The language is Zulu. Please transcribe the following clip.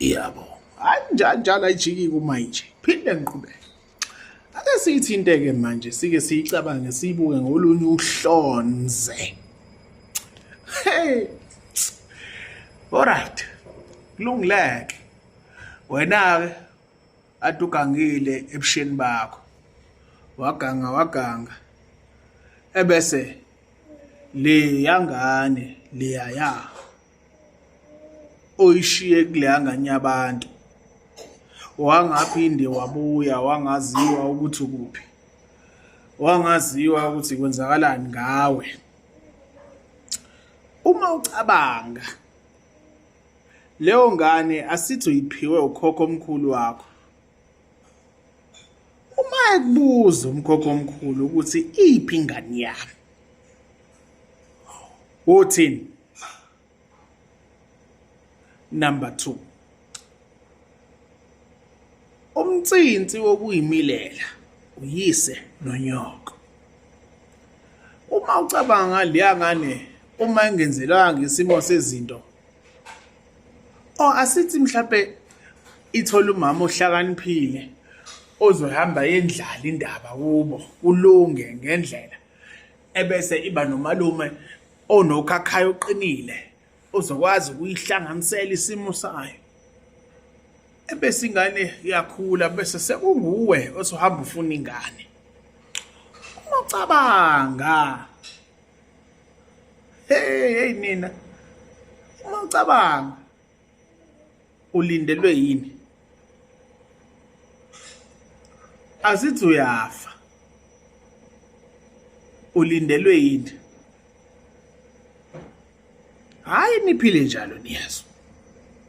yabo hayi njalo njalo ayijiki kumanje phinde ngiqhubeke ake siyithinte-ke manje sike siyicabange siyibuke ngolunye uhlonze hey alright kulungileke wena-ke ade ugangile ebusheni bakho waganga waganga ebese le yangane leyaya oyishiye kuleya ngane yabantu wangaphinde wabuya wangaziwa ukuthi ukuphi wangaziwa ukuthi kwenzakalani ngawe uma ucabanga leyo ngane asithi uyiphiwe ukhokho omkhulu wakho uma ekubuza umkhokho omkhulu ukuthi iphi ingane yami uthini Number 2. Umtsinsi wokuyimilela uyise nonyoko. Uma ucabanga leya ngane uma engenzelwanga isimo sezinto or asithi mhlawumbe ithola umama ohlakaniphile ozohamba yendlala indaba kubo kulunge ngendlela ebese iba nomalume onokhakhayo oqinile ozokwazi ukuyihlanganisela isimo sayo ebese ingane iyakhula bese sekunguwe osuhamba ufuna ingane uma ucabanga hey hey nina uma ucabanga ulindelwe yini azithi uyafa ulindelwe yini hayi niphile njalo niyezwa